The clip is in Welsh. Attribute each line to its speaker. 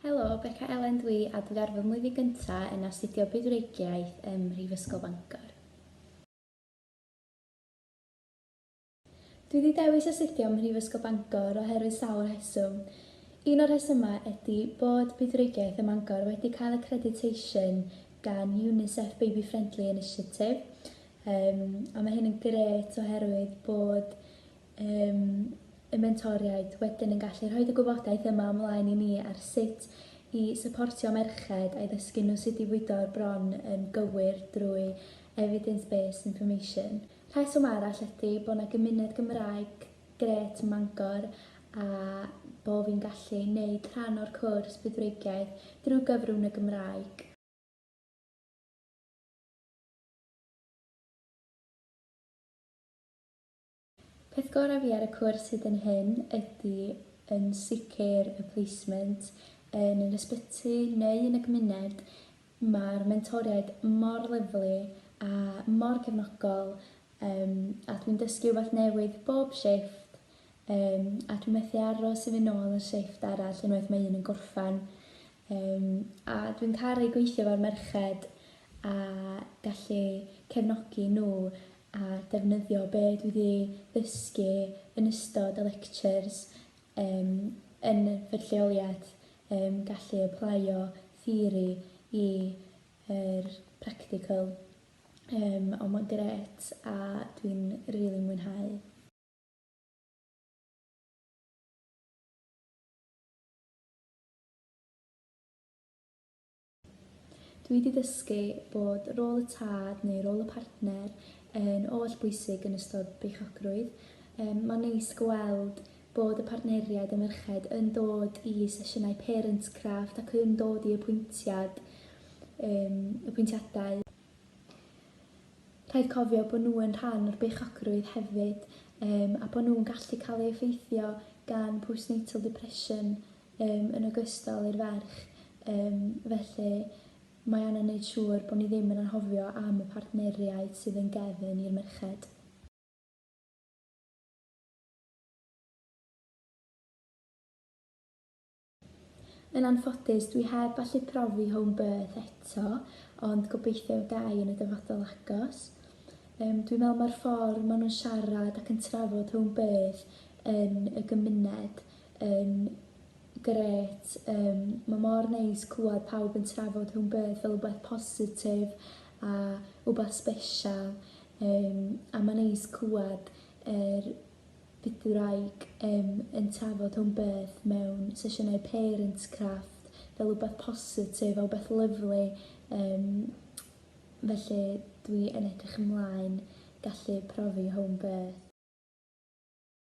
Speaker 1: Helo, Beca Elen dwi a dwi ar fy mlwyddyn gynta yn astudio Bydwreigiaeth ym Mhrifysgol Bangor. Dwi wedi dewis astudio ym Mhrifysgol Bangor oherwydd sawl rheswm. Un o'r rhesymau ydi bod Bydwreigiaeth ym Mangor wedi cael accreditation gan UNICEF Baby Friendly Initiative, um, a mae hyn yn gret oherwydd bod yym, y mentoriaid wedyn yn gallu rhoi y gwybodaeth yma ymlaen i ni ar sut i syportio merched a'i ddysgu nhw sut i fwydo'r bron yn gywir drwy evidence based information. Rheswm arall ydy bod yna gymuned Gymraeg grêt ym Mangor a bo fi'n gallu neud rhan o'r cwrs Budwreigiaeth drwy gyfrwng y Gymraeg. Peth gorau fi ar y cwrs hyd yn hyn ydy yn sicr y placement yn yr ysbyty neu yn y gymuned, mae'r mentoriaid mor lyfli a mor cefnogol yym a dwi'n dysgu rhywbeth newydd bob shifft yym a dwi methu aros i fynd nôl ar shifft arall unwaith mae un yn gorffen. Yym a dwi'n caru gweithio efo'r merched a gallu cefnogi nhw a defnyddio be dwi di ddysgu yn ystod y lectures yym yn fy lleoliad yym gallu aplaio theori i yr practical yym ond mae'n gret a dwi'n rili mwynhau. Dw i 'di ddysgu bod rôl y tad neu rôl y partner yn oll bwysig yn ystod beichiogrwydd. Yym ma'n neis gweld bod y partneriaid a merched yn dod i sesiynau Parents Craft ac yn dod i apwyntiad yym apwyntiadau. Rhaid cofio bod nhw yn rhan o'r beichiogrwydd hefyd yym a bod nhw'n gallu cael ei effeithio gan postnatal depression um, yn ogystal i'r ferch, um, felly mae angen neud siŵr bod ni ddim yn anghofio am y partneriaid sydd yn gefn i'r merched. Yn anffodus, dwi heb allu profi home birth eto, ond gobeithio y gai yn y dyfodol agos. Um, dwi'n meddwl mae'r ffordd maen nhw'n siarad ac yn trafod hwn beth yn y gymuned yn grêt yym ma' mor neis clywed pawb yn trafod home birth fel rwbeth positif a wbath sbesial yym a ma' neis clywed yr bydwraig um, yn trafod home birth mewn sesiynau parents craft fel rhywbeth positif a rhywbeth lyflu um, felly dwi yn edrych ymlaen gallu profi home birth.